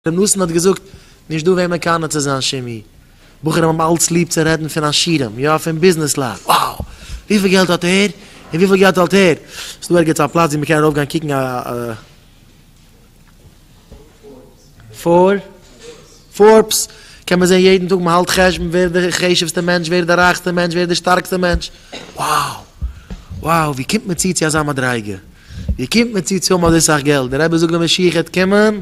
ר' נתן האט געזאגט, נישט דא וועם מקנא צו זיין שימי. בחורים האבן אלץ ליב צו רעדן פון עשירים, יא פון ביזנעסלייט, wow! וויפיל געלט האט ער? און וויפיל געלט האלט ער? איז דא ערגעץ א פלאץ ווי מ'קען ארויפגיין קוקן א. פארבס? קען מען זען יעדן טאג מ'האלט חשבון ווער איז די חשובסטע מענטש, ווער איז די רייכסטע מענטש, ווער איז די שטארקסטע מענטש, wow! wow! ווי קומט מען צו צו אזא מדריגה? ווי קומט מען צו צו האבן אזוי סאך געלט? דער רבי זאגט די משיח העט קומען.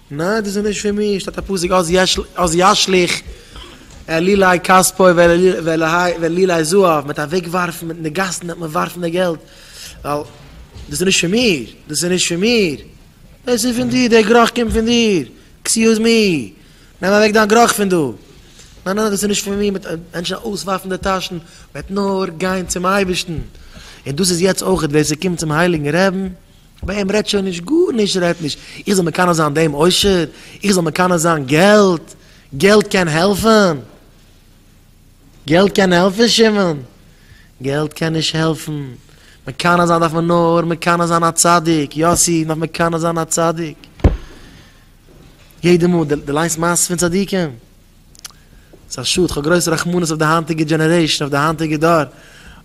ניין דאס איז נישט פון מיר, שטייט א פסוק אז ישליך עלילי כספו ועלילי זהב, מ'עט אוועק ווארפן, מ'עט אין די גאסן וועט מען ווארפן די געלט, ווייל דאס איז נישט פון מיר, דאס איז נישט פון מיר, דאס איז פון דיר, דער גראך קומט פון דיר, עקסיוז מי, נעם אוועק דיין גראך פון דא, ניין ניין דאס איז נישט פון מיר, מ'עט מענטשן אויסווארפן די טאשן, מ'עט נאר גיין צום אייבערשטן, און דאס איז יעצט אויכעט ווער ס'קומט צום הייליגן רעבן ביי אים רעדט שוין נישט גארנישט, ער רעדט נישט איך זאל מקנא זיין דעם עושר, איך זאל מקנא זיין געלט, געלט קען העלפען? געלט קען העלפען שמעון? געלט קען נישט העלפען, מקנא זיין דארף מען נאר מקנא זיין א צדיק, יאסי מ'דארף מקנא זיין א צדיק, יעדע מאל די ליינסט מעשות פון צדיקים? ס'איז א שאד, כ'האב גרויס רחמנות אויף די היינטיגע דזשענערעישן, אויף די היינטיגע דור,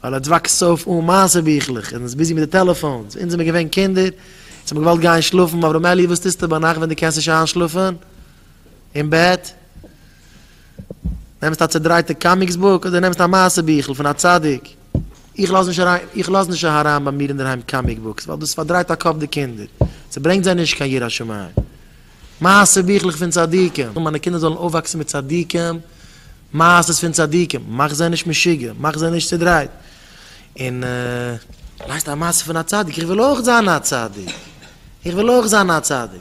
ווייל עטס וואקסט אויף אן מעשה ביכלעך, און איז ביזי מיט די טעלעפאונס, אונז זעמיר געווען קינדער, אונז האמיר געוואלט גיין שלאפן, אברהם אלי' וואס טוסטו ביינאכט ווען דו קענסט נישט איינשלאפן אין בעט? נעמסט א צעדרייטע קאמיקס בוק אדער נעמסט א מעשה ביכל פון א צדיק? איך לאז נישט אריין, איך לאז נישט אהריין ביי מיר אינדערהיים קאמיק בוקס, ווייל דאס פארדרייט א קאפ די קינדער, ס'ברענגט זיי נישט קיין יראת שמים. מעשה ביכלעך פון צדיקים, מיינע קינדער זאלן אויפוואקסן מיט צדיקים, מעשה'ס פון צדיקים, מאך זיי נישט משוגע, מאך זיי נישט צודרייט, און לייסט א מעשה פון א צדיק, איך וויל אויך זיין א צדיק, איך וויל אויך זיין א צדיק.